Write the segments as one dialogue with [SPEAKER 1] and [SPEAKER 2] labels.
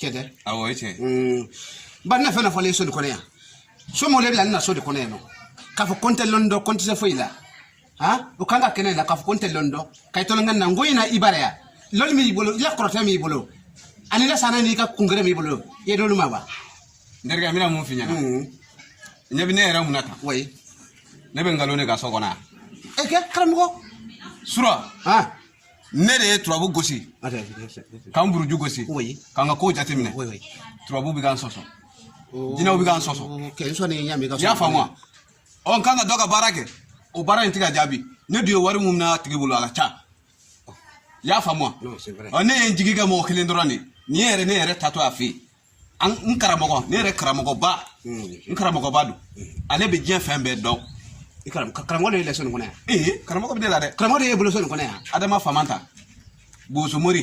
[SPEAKER 1] cɛ tɛ awɔ o ye tiɲɛ
[SPEAKER 2] ye n
[SPEAKER 1] ba ne fɛn fɔlen so de kɔnɔ yan somɔgɔ le bila ne na so de kɔnɔ yan nɔ k'a fɔ ko n tɛ lɔnni dɔn ko n tɛ se foyi la han o kan ka kɛnɛ la k'a fɔ ko n tɛ lɔnni dɔn ka i tɔlɔnkɛ na n ko in na i bara yan lɔnni min b'i bolo i la kɔrɔtɛ min b'i bolo ani la sanna n'i ka kungere min b'i bolo i ye n'olu ma wa n terikɛ n
[SPEAKER 2] bɛna mun f'i ɲɛna ɲɛ bɛ ne yɛrɛ mun na tan
[SPEAKER 1] oui ne bɛ nkalon
[SPEAKER 2] de kan so kɔnɔ yan e kɛ karamɔgɔ
[SPEAKER 1] sura
[SPEAKER 2] han
[SPEAKER 1] ne de
[SPEAKER 2] ye turabu
[SPEAKER 1] gosi ka n
[SPEAKER 2] buruju gosi ka n ka kow jateminɛ turabu bɛ
[SPEAKER 1] ka n sɔsɔ
[SPEAKER 2] jinɛw bɛ ka n sɔsɔ i
[SPEAKER 1] y'a faamu wa
[SPEAKER 2] ɔ n kan ka dɔ ka baara kɛ o baara in tɛ ka jaabi ne dun ye wari mun minɛ a tigi bolo a ka ca i y'a faamu wa ɔ ne ye n
[SPEAKER 1] jigi kɛ mɔgɔ
[SPEAKER 2] kelen dɔrɔn de ne yɛrɛ ne yɛrɛ taatɔ a fɛ yen an n karamɔgɔ ne yɛrɛ karamɔgɔba n karamɔgɔba don ale bɛ diɲɛ fɛn bɛɛ dɔn
[SPEAKER 1] karamɔgɔ de ye ne la so nin kɔnɔ yan ee karamɔgɔ bɛ ne la dɛ
[SPEAKER 2] karamɔgɔ de ye bolo so nin kɔnɔ yan
[SPEAKER 1] adama famanta
[SPEAKER 2] boso mori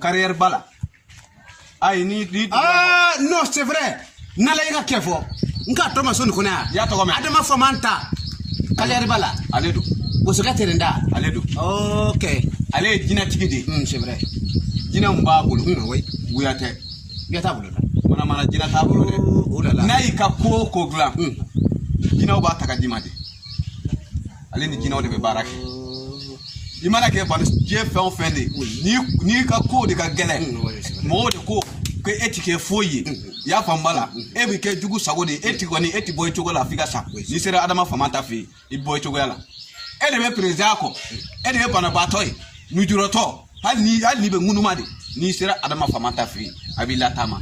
[SPEAKER 2] kariyɛri ba la ayi ni ni aa
[SPEAKER 1] non c'est vrai n'ala y'i ka kɛ fɔ n k'a tɔgɔ ma so nin kɔnɔ yan y'a tɔgɔ mɛn adama
[SPEAKER 2] famanta
[SPEAKER 1] kariyɛri ba la ale don bosokɛ
[SPEAKER 2] tɛrɛn da
[SPEAKER 1] ale don ok ale ye jinɛtigi
[SPEAKER 2] de ye c'est vrai
[SPEAKER 1] jinɛw b'a
[SPEAKER 2] bolo wuya tɛ Jinɛ t'a bolo
[SPEAKER 1] dɛ. Manamana jinɛ
[SPEAKER 2] t'a bolo dɛ. O de la. N'a y'i
[SPEAKER 1] ka ko o
[SPEAKER 2] ko dilan. Un. Jinɛw b'a ta ka d'i ma de. Ale ni jinɛw de bɛ baara kɛ. I mana kɛ bani diɲɛ fɛn o fɛn de ye. N'i ka ko de ka gɛlɛn. Mɔgɔw de ko ko e ti kɛ foyi ye. I y'a faamu ba la. E bɛ kɛ jugu sago de ye. E ti kɔni e ti bɔ i cogo la f'i ka sa. N'i sera Adama Famanta fɛ yen. i bɔ i cogoya la e de bɛ perezidan kɔ e de ye banabaatɔ ye nujuratɔ hali ni hali n'i bɛ ŋunuma de n'i sera adama famanta fɛ yen a b'i lataama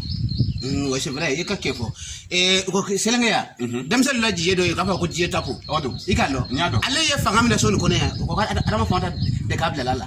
[SPEAKER 2] mm, wa c'est
[SPEAKER 1] vrai i ka kɛ fɔ eh, ko selenge yan mhm. denmisɛnnin la jiye dɔ ye k'a fɔ ko jiye tapo i k'a lɔn
[SPEAKER 2] ale
[SPEAKER 1] ye fanga minɛ so nin kɔnɔ yan o ko adama famanta de k'a bilala la